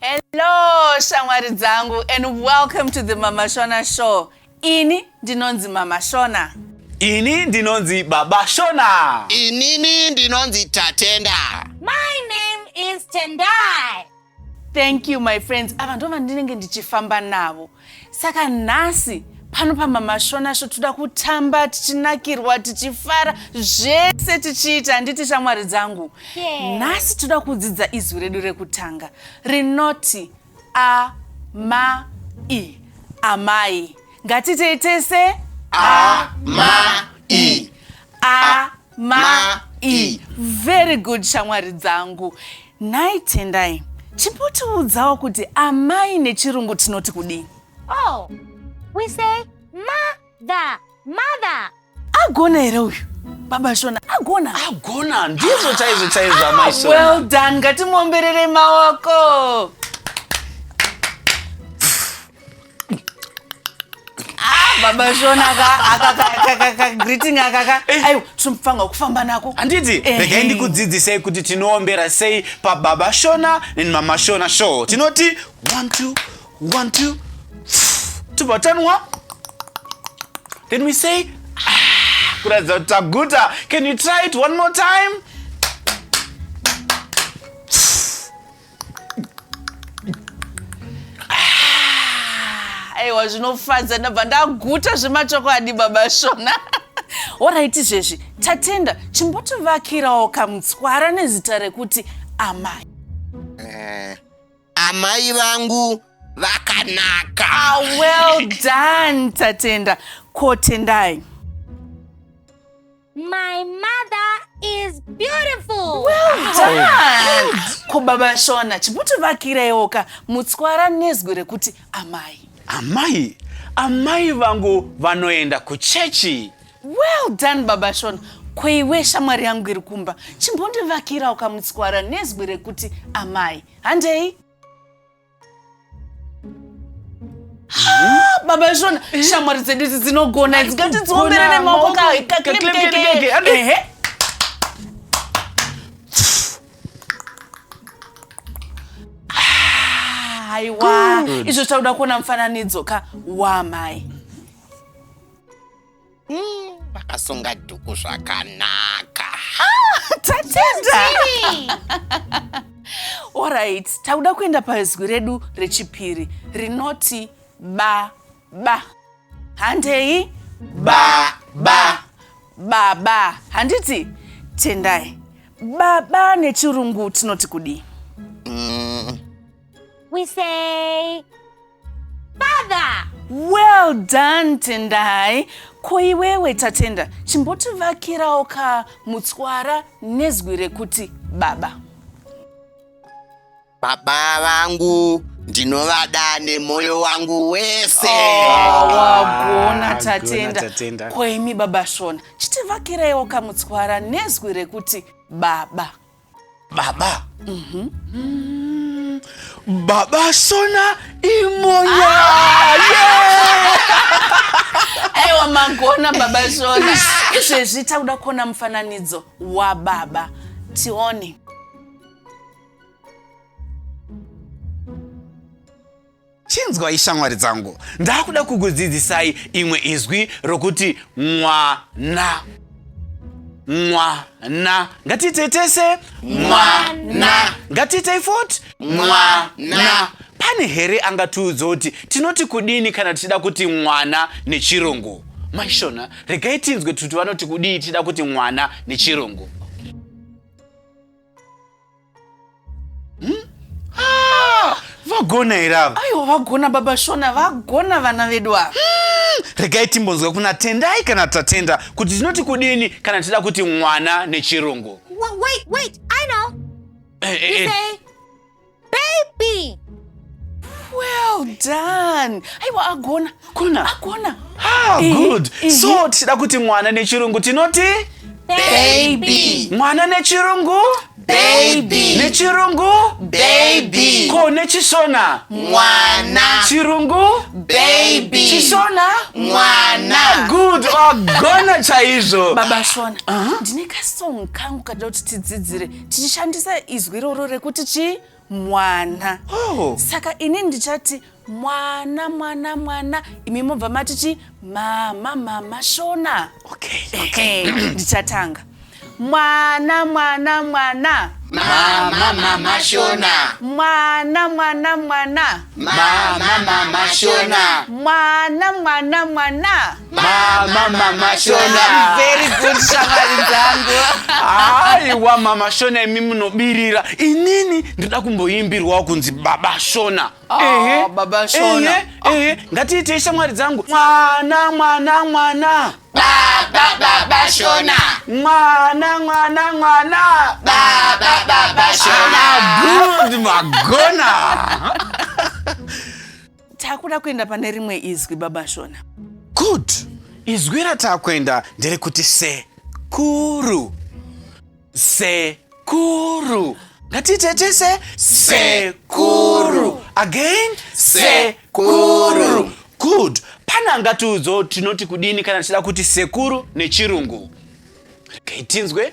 Hello shamwari dzangu and welcome to the Mama Shona show. Ini ndinonzi Mama Shona. Ini ndinonzi Baba Shona. Inini ndinonzi Tatenda. My name is Tendai. thank you my friends ava ndo vandinenge ndichifamba navo saka nhasi pano pamamashona sho toda kutamba tichinakirwa tichifara zvese tichiita handiti shamwari dzangu nhasi yeah. toda kudzidza izwi redu rekutanga rinoti amai amai ngatitei tese amai amai ma i very good shamwari dzangu nhai tendai chimbotiudzawo kuti amai nechirungu tinoti kudii oh we say mother mother agona here uyu baba shona agona agona ndizvo chaizvo chaizvo ah, amai shona well done ngatimomberere maoko baba shona akagreeting akaka eh. aiwa tinofanirwa kufamba nako handiti regai ndikudzidzisei kuti tinoombera sei pababa shona and mama shona show tinoti one two one two tobva tanwa then we say ah, kuratidza kuti taguta can you try it one more time aiwa zvinofadza ndabva ndaguta zvemachokwadi baba shona orit izvezvi tatenda chimbotivakirawo kamutswara nezita rekuti amai eh, amai vangu vakanaka ah, well done tatenda kotendai My mother is beautiful. Well Ko baba Shona chimutivakiraiwo ka mutswara nezwi rekuti amai. Amai, amai vangu vanoenda kuchechi. Well done baba Shona. Ko iwe shamwari yangu iri kumba chimbondivakirawo kamutswara nezwi rekuti amai. Handei? baba izvona shamwari dzedu idzi dzinogona idzi ngatidziombere nemaoko kaehe aiwa izvo tauda kuona mufananidzo ka wamai Hmm, vakasunga dhuku zvakanaka tatenda orit takuda kuenda pazwi redu rechipiri rinoti ba ba handei ba ba baba handiti tendai baba nechirungu tinoti kudii mm. we say Father! Well done Tendai. Ko iwewe Tatenda, chimbotivakirawo ka mutswara nezwi rekuti baba. Baba vangu ndinovada nemoyo wangu wese. Oh, wagona Ah, Tatenda. gona, Tatenda. Ko imi baba Shona, chitivakiraiwo ka mutswara nezwi rekuti baba. baba mm-hmm. mm, baba sona imonya ah! yeah! aiwa magona baba sona izvezvi takuda kuona mufananidzo wababa tione Chinzwai shamwari dzangu, ndakuda kukudzidzisai imwe izwi rokuti mwana. Mwana. Ngatiitei tese mwana. Ngatiitei futi mwana. Pane here angatiudza kuti tinoti kudini kana tichida kuti mwana nechirungu? Maishona, regai tinzwe kuti vanoti kudii tichida kuti mwana nechirungu. hmm? ah, vagona here ava aiwa vagona baba shona vagona vana vedu ava hmm, regai timbonzwa kuna tendai kana tatenda kuti tinoti kudini kana tida kuti mwana nechirungu wait, wait, I know. Eh, eh, eh. Baby. well done aiwa agona kona agona ah, eh, good eh, so eh. tichida kuti mwana nechirungu tinoti baby mwana nechirungu baby nechirungu baby ko nechishona mwana chirungu baby chishona mwana ah, good wagona oh, chaizvo baba shona uh-huh. ndine uh -huh. kasong kangu kadida kuti tidzidzire tichishandisa izwi iroro rekuti chii mwana oh. saka ini ndichati mwana mwana mwana imi mobva mati chi mama mama shona okay, okay. ndichatanga mwana mwana mwana mama mama shona mwana mwana mwana mama mama shona mwana mwana mwana mama mama shona very good shamwari dzangu aiwa mama shona imi munobirira inini ndida kumboimbirwawo kunzi baba shona oh, ehe baba shona ehe, oh. ehe. ngatiitei shamwari dzangu mwana mwana mwana baba baba shona mwana mwana mwana baba baba shona ah, good magona takuda kuenda pane rimwe izwi baba shona good izwi ratakuenda nderekuti sekuru sekuru ngatitetese sekuru again sekuru good pane angatiudzo tinoti kudini kana tichida kuti sekuru nechirungu regai tinzwe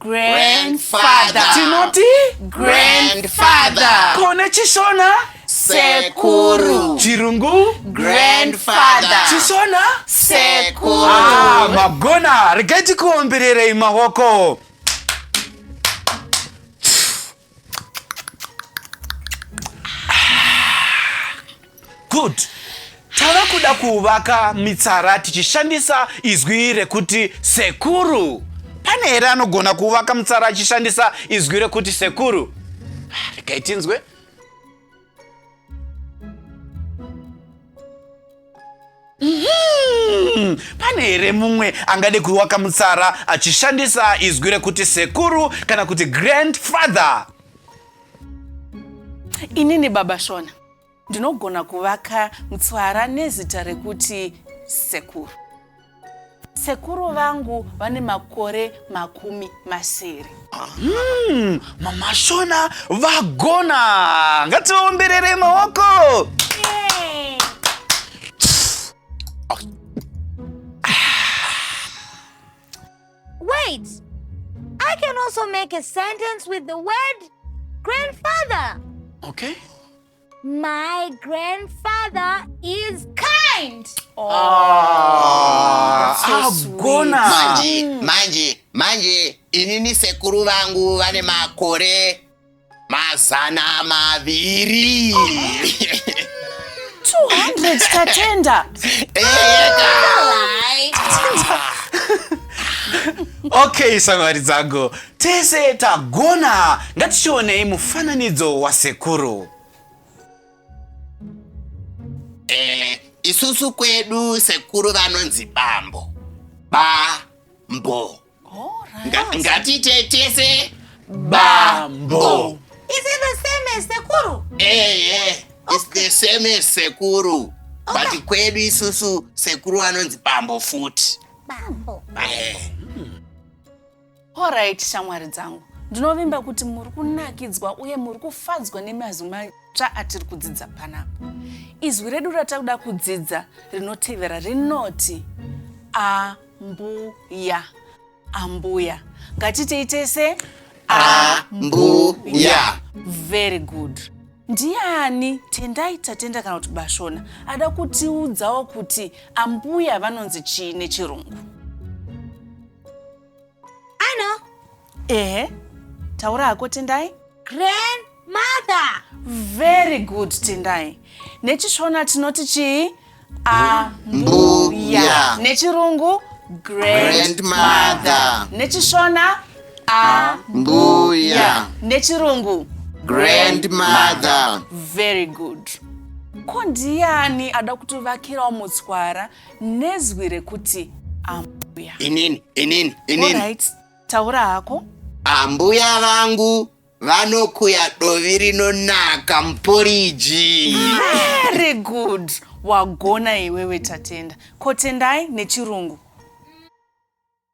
Grandfather. tinoti Grandfather. kone chishona Sekuru. chirungu Grandfather. chishona Sekuru. Ah, magona regai tikuombererei maoko Good. Tava kuda kuvaka mitsara tichishandisa izwi rekuti sekuru. Pane here anogona kuvaka mitsara achishandisa izwi rekuti sekuru? Regai tinzwe. Hmm, pane here mumwe angade kuwaka mutsara achishandisa izwi rekuti sekuru kana kuti grandfather inini baba shona ndinogona kuvaka mutsara nezita rekuti sekuru Sekuru vangu vane makore makumi masere. Mm, mama Shona vagona. Ngativaomberere maoko. Yay. Wait. I can also make a sentence with the word grandfather. Okay. My grandfather is kind. Oh, ah, so sweet. Manje, mm. manje, manje, inini sekuru vangu vane makore mazana maviri. 200 tatenda. Eka. Okay, samari dzangu. Tese tagona, ngatichionei mufananidzo wasekuru. Eh, isusu kwedu sekuru vanonzi bambo. Bambo. Nga- Ngatiite tese bambo. Is it the same as sekuru? Eh, eh, it's the same as sekuru. But kwedu isusu sekuru vanonzi bambo futi. Bambo. Eh. Horaiti shamwari dzangu, ndinovimba kuti muri kunakidzwa uye muri kufadzwa nemazwi matsva atiri kudzidza panapa. Izwi redu ratakuda kudzidza rinotevera rinoti ambuya. Ambuya. Ngatitei tese ambuya. Very good. Ndiani Tendai Tatenda kana kuti Bashona ada kutiudzawo kuti ambuya vanonzi chii nechirungu? Ano. Ehe. Taura hako Tendai. Grandmother. Very good Tendai. Nechishona tinoti chii? Ambuya. Nechirungu grandmother. Nechishona ambuya. Nechirungu grandmother. Very good. Ko ndiani ada kutovakirawo mutswara nezwi rekuti ambuya inini inini inini Alright, taura hako ambuya vangu vanokuya dovi rinonaka muporiji very good wagona iwewe tatenda ko tendai nechirungu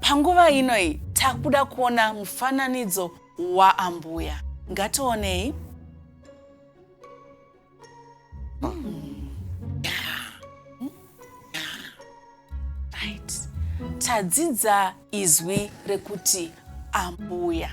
Panguva ino iyi takuda kuona mufananidzo waambuya. Ngationei. Right. Tadzidza izwi rekuti ambuya.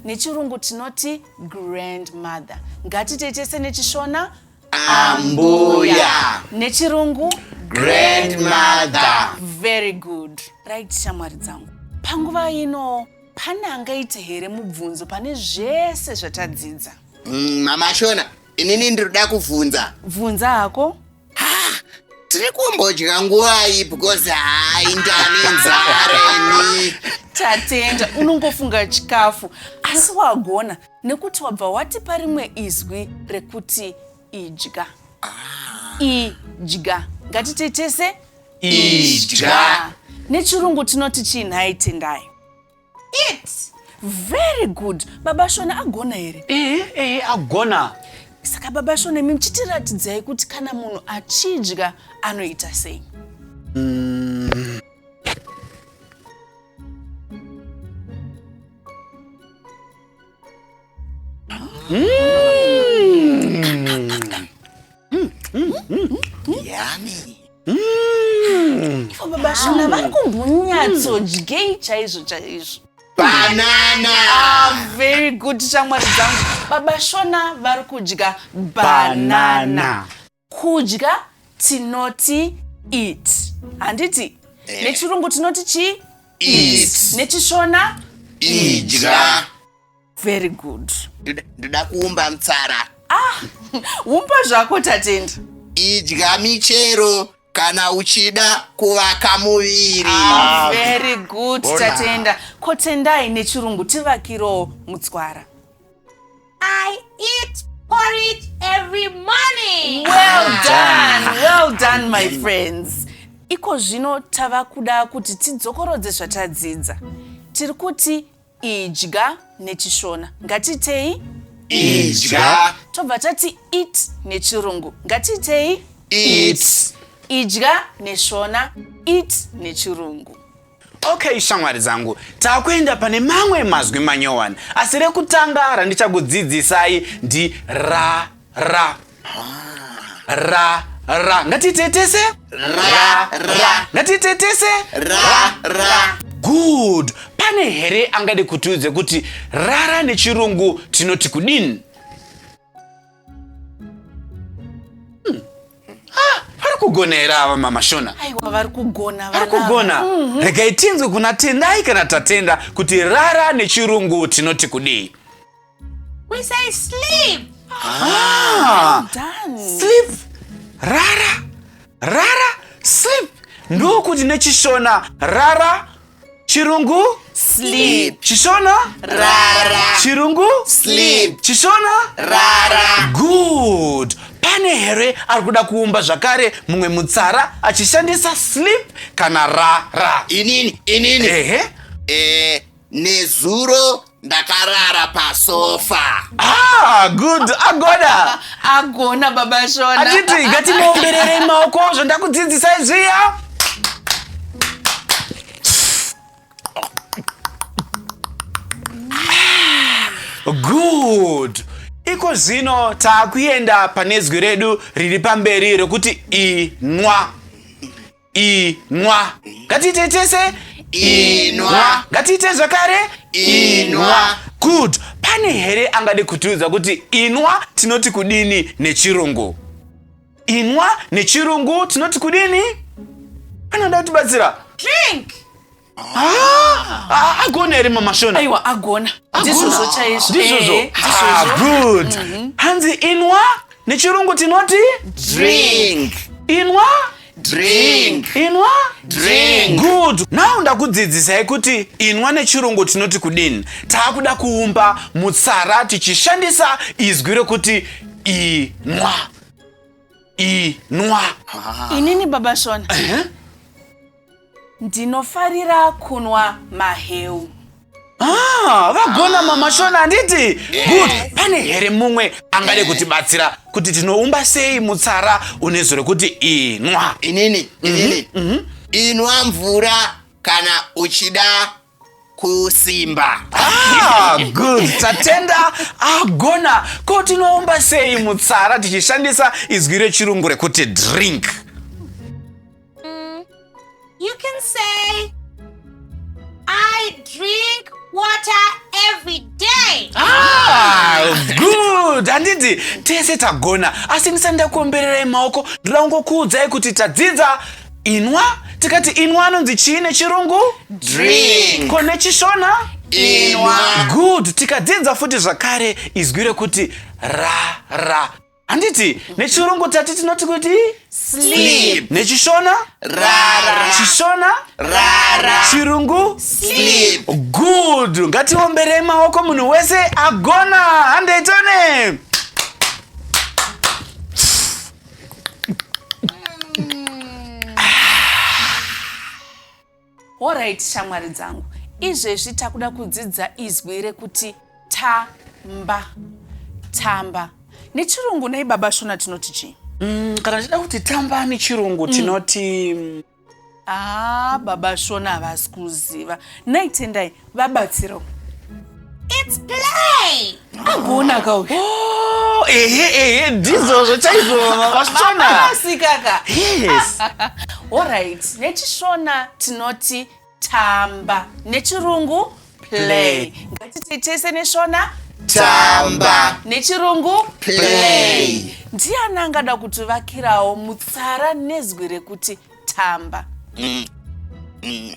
Nechirungu tinoti grandmother. Ngatitei tese nechishona Ambuya. Nechirungu? Grandmother. Very good. Right, shamwari dzangu. Panguva ino pane angaite here mubvunzo pane zvese zvatadzidza? Mm, mama Shona, inini ndinoda kuvhunza. Vhunza hako? tiri kumbodya nguvai because hai ndane nzara ini tatenda unongofunga chikafu asi wagona Nekuti wabva watipa rimwe izwi rekuti idya. Ah. Idya. Ngatite tese idya. Nechirungu tinoti chii nhai Tendai? Eat. Very good. Baba Shona agona here? Eh, eh, agona. Saka baba Shona imi muchitiratidzai kuti kana munhu achidya anoita sei? Mm. Vashona vari kumbonyatsodyei chaizvo chaizvo. Banana. Ah, very good shamwari dzangu. Baba Shona vari kudya banana. banana. Kudya tinoti eat. Handiti? Eh. Nechirungu tinoti chi? Eat. Nechishona? Idya. Very good. Ndoda- Ndoda kuumba mtsara. Umba zvako tatenda. Idya michero kana uchida kuvaka muviri. Ah, very good Bona. tatenda. Kotendai nechirungu tivakirowo mutswara. I eat porridge every morning. Well ah. done, well done my friends. Iko zvino tava kuda kuti tidzokorodze zvatadzidza. Tiri kuti idya nechishona. Ngatitei? Idya. Tobva tati eat nechirungu. Ngatitei? Eat. Idya neshona, eat nechirungu. Okay shamwari dzangu, takuenda pane mamwe mazwi manyowani, asi rekutanga randichakudzidzisai ndi ra ra ra ra. Ngatitetese ra ra. Ngatitetese ra ra. Good. Pane here angade kutiudze kuti rara nechirungu tinoti kudini? Hmm. Ah, vari kugona here ava mama shona aiwa vari kugona vari kugona mhm. regai tinzwe kuna tendai kana tatenda kuti rara nechirungu tinoti kudii We say sleep. Ah, sleep. Rara. Rara. Sleep. Ndokuti nechishona rara chirungu Sleep. chishona Rara. chirungu Sleep. chishona Rara. good pane here ari kuda kuumba zvakare mumwe mutsara achishandisa sleep kana rara Inini, inini. ehe Eh, nezuro ndakarara pasofa ah, good agona agona baba shona atiti ngatimuomberere maoko zvandakudzidzisai zviya good iko zvino taakuenda pane zwi redu riri pamberi rekuti inwa inwa ngatiite tese inwa ngatiite zvakare inwa good pane here angade kutiudza kuti inwa tinoti kudini nechirungu inwa nechirungu tinoti kudini anoda kutibatsira drink Ah, agona here mama shona aiwa agona ndizvozvo chaizvo ndizvozvo Eh, Ah, good hanzi inwa nechirungu tinoti Drink. inwa Drink. inwa Drink. good now ndakudzidzisai kuti inwa nechirungu tinoti kudini taakuda kuumba mutsara tichishandisa izwi rekuti inwa inwa inini baba shona Ndinofarira kunwa maheu. Ah, vagona mama shona handiti good pane here mumwe angade kutibatsira kuti tinoumba sei mutsara une zuro rekuti inwa inini inini inwa mvura kana uchida kusimba ah, good tatenda agona ah, ko tinoumba sei mutsara tichishandisa izwi rechirungu rekuti drink mm, you can say i drink water every day ah, good handiti tese tagona asi ndisani ndakuombererai maoko ndoda kungokuudzai kuti tadzidza inwa tikati inwa anonzi chii nechirungu Drink. ko nechishona Inwa. good tikadzidza futi zvakare izwi rekuti ra ra handiti nechirungu tati tinoti kuti Sleep. nechishona Rara. chishona Rara. chirungu Sleep. good ngatiomberei maoko munhu wese agona handei tone Alright shamwari dzangu, izvezvi takuda kudzidza izwi rekuti tamba. Tamba. Nechirungu nei baba Shona tinoti chii? Mm, kana tichida kuti tamba nechirungu tinoti mm, Ah, baba Shona havasi kuziva. Nhai Tendai, vabatsiro. It's play! Agona ka uyu. Oh, ehe ehe ndizvozvo chaizvo baba Shona. Baba sikaka. Yes. All right, nechishona tinoti tamba nechirungu play ngatiti tese neshona tamba nechirungu play ndiani angada kutivakirawo mutsara nezwi rekuti tamba mm. Mm.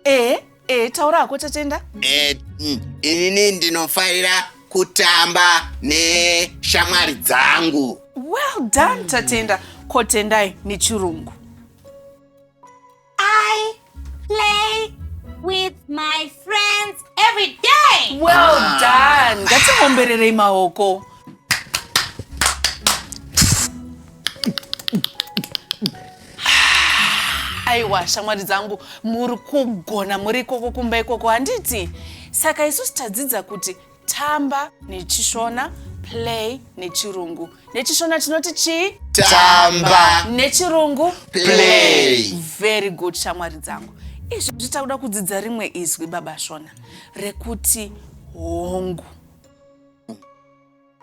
e e taura hako tatenda e, mm, inini ndinofarira kutamba neshamwari dzangu well done tatenda kotendai nechirungu I play with my friends every day. Well ah. done. Ngatiombererei maoko. aiwa shamwari dzangu muri kugona muri ikoko kumba ikoko handiti saka isusu tadzidza kuti Tamba neChishona, play neChirungu. NeChishona tinoti chii? Tamba. NeChirungu? Play. Very good shamwari dzangu. Izvi zvitakuda kudzidza rimwe izwi baba Shona rekuti hongu.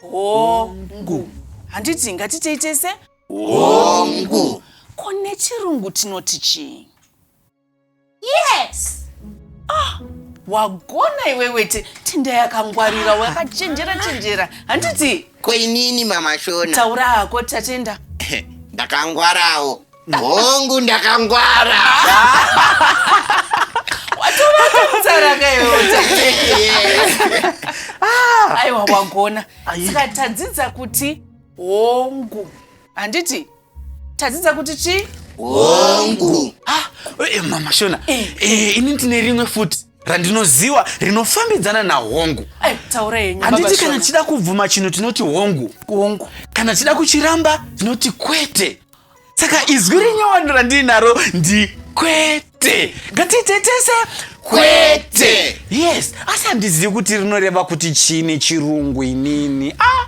Hongu. Handiti ngatitei tese? Hongu. Ko nechirungu tinoti chii? Yes. Ah, wagona iwe wete tinda yakangwarira wakachenjera chenjera handiti koinini mama shona taura hako tatenda ndakangwarawo hongu ndakangwara aiwa wagona saka tadzidza kuti hongu handiti tadzidza kuti chii hongu ah, eh, mama shona eh. Eh, ini ndine rimwe futi randinoziwa rinofambidzana nahongu handiti kana tichida kubvuma chinhu tinoti hongu hongu kana tichida kuchiramba tinoti kwete saka izwi rinyowani randiinaro ndi kwete ngatitetese kwete yes asi handizivi kuti rinoreva kuti chii nechirungu inini ah.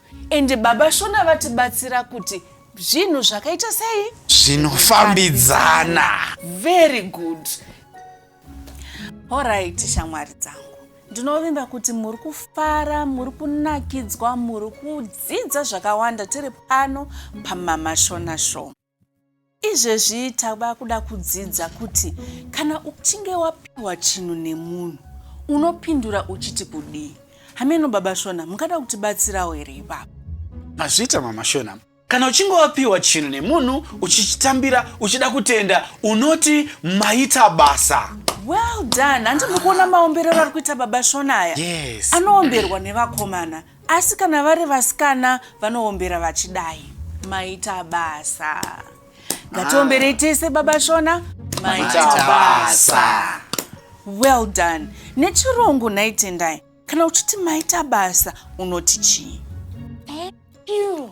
Ende baba Shona vatibatsira kuti zvinhu zvakaita sei? Zvinofambidzana. Very good. Alright shamwari dzangu. Ndinovimba kuti muri kufara, muri kunakidzwa, muri kudzidza zvakawanda tiri pano paMama Shona Show. Izvezvi tava kuda kudzidza kuti kana uchinge wapiwa chinhu nemunhu unopindura uchiti kudii. Hameno baba Shona mungada kutibatsirawo here ipapa? Mazvita mama Shona. Kana uchinge wapiwa chinhu nemunhu uchichitambira uchida kutenda unoti maita basa. Well done. Handi muri kuona maomberero ari kuita baba Shona aya? Yes. Anoomberwa nevakomana. Asi kana vari vasikana vanoombera vachidai. Maita basa. Ngatiomberei tese baba Shona. Maita basa. Well done. Nechirungu nhai Tendai. Kana uchiti maita basa unoti chii?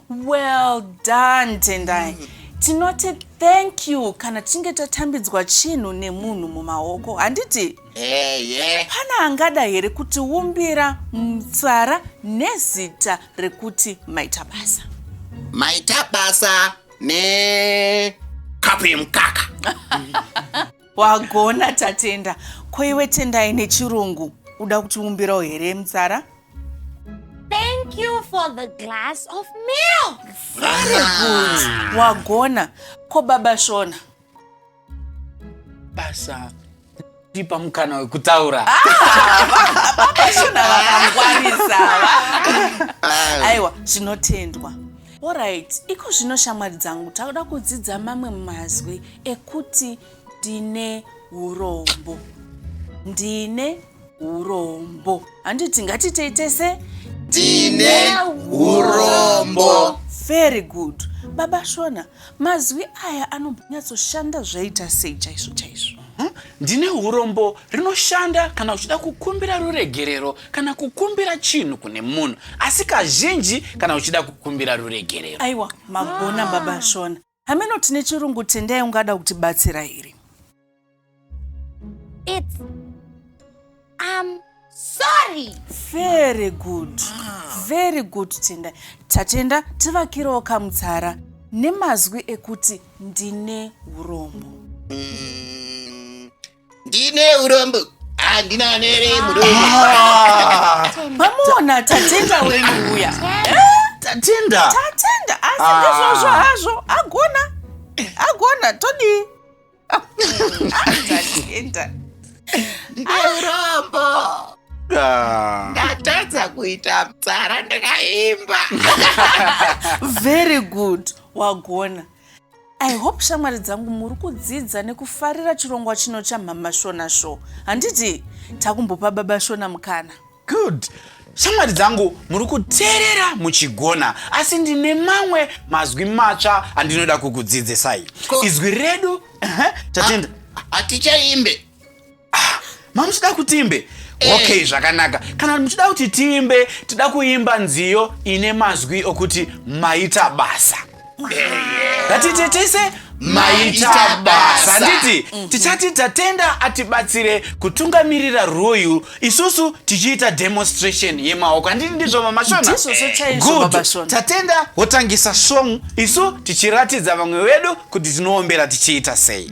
Well done Tendai. Tinoti thank you kana tichinge tatambidzwa chinhu nemunhu mumaoko. Handiti? eye Pana angada here kutiumbira mutsara nezita rekuti maita basa? maita basa ne kapu yemukaka Wagona tatenda. Ko iwe tendai nechirungu uda kutiumbirawo here mutsara? Thank you for the glass of milk. Very good. Wagona. Ko baba Shona basa tipa mukana wekutaura vashona vakangwarisa va- aiwa zvinotendwa orit iko zvino shamwari dzangu takuda kudzidza mamwe mazwi ekuti ndine urombo ndine urombo handiti ngatiitei tese tine urombo very good baba shona mazwi aya anombonyatsoshanda zvaita sei chaizvo chaizvo Huh? ndine urombo rinoshanda kana uchida kukumbira ruregerero kana kukumbira chinhu kune munhu asi kazhinji kana uchida kukumbira ruregerero aiwa magona baba shona hameno tine chirungu tendai ungada kutibatsira here It's I'm sorry. very good very good tendai tatenda tivakirewo kamutsara nemazwi ekuti ndine urombo ndine urombo handina nere muromo mamuona tatenda wenyu uya tatenda tatenda asi Ah. ndizvozvo hazvo agona agona todii tatenda ndine urombo Ah. ndatadza kuita mtsara ndakaimba very good wagona I hope shamwari dzangu muri kudzidza nekufarira chirongwa chino chamhama Shona Show. Handiti takumbopa baba Shona mukana. Good. Shamwari dzangu muri kuteerera muchigona asi ndine mamwe mazwi matsva andinoda kukudzidzisai. Izwi redu, tatenda. Hatichaimbe. ah, mamuchida kutimbe eh. okay zvakanaka kana muchida kuti timbe tida kuimba nziyo ine mazwi okuti maita basa ngatite tese maita basa handiti mhm. tichati tatenda atibatsire kutungamirira rwoyu isusu tichiita demonstration yemaoko handiti ndizvo mamashona good tatenda wotangisa song isu tichiratidza vamwe vedu kuti tinoombera tichiita sei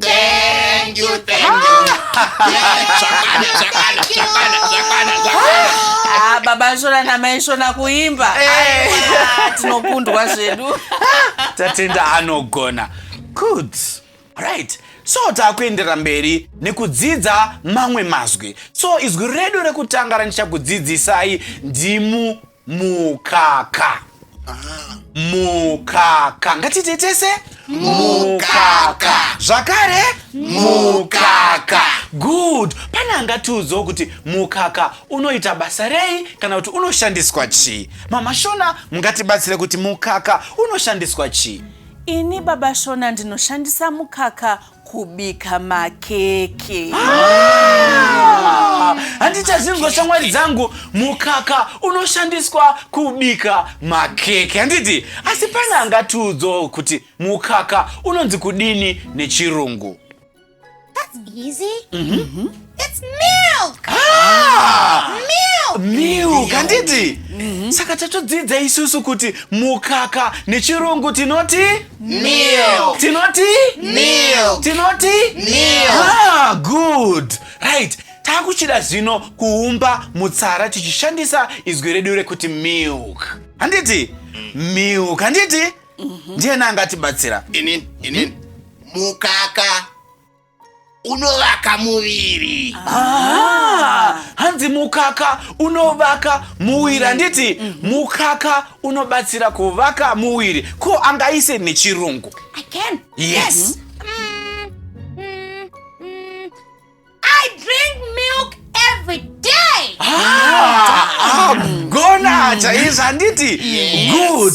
Thank you, thank you. Zvakwana, zvakwana, zvakwana, zvakwana, zvakwana. Ah, baba shona namai shona kuimba Aiwa, tinokundwa zvedu tatenda anogona good right so taakuendera mberi nekudzidza mamwe mazwi so izwi redu rekutanga randichakudzidzisai ndimu mukaka mukaka ngatiite tese mukaka zvakare mukaka good pane angatiudzawo kuti mukaka unoita basa rei kana kuti unoshandiswa chii mama shona mungatibatsire kuti mukaka unoshandiswa chii ini baba shona ndinoshandisa mukaka kubika makeke handichazvinzwa shamwari dzangu mukaka unoshandiswa kubika makeke handiti asi pane angatiudzawo kuti mukaka unonzi kudini nechirungu That's easy. It's milk. Ah! Milk. Milk, handiti? Mm-hmm. Saka tatodzidza isusu kuti mukaka nechirungu tinoti milk. Tinoti milk. Tinoti milk. Ah, good. Right. Takuchida zvino kuumba mutsara tichishandisa izwi redu rekuti milk. Handiti? Milk, handiti? Mm-hmm. Ndiye nanga atibatsira. Ini, ini. Mukaka. unovaka muviri ah, hanzi mukaka unovaka muviri handiti mm, mm, mm. mukaka unobatsira kuvaka muviri ko angaise nechirungu yes ah, ah, gona chaizvo handiti good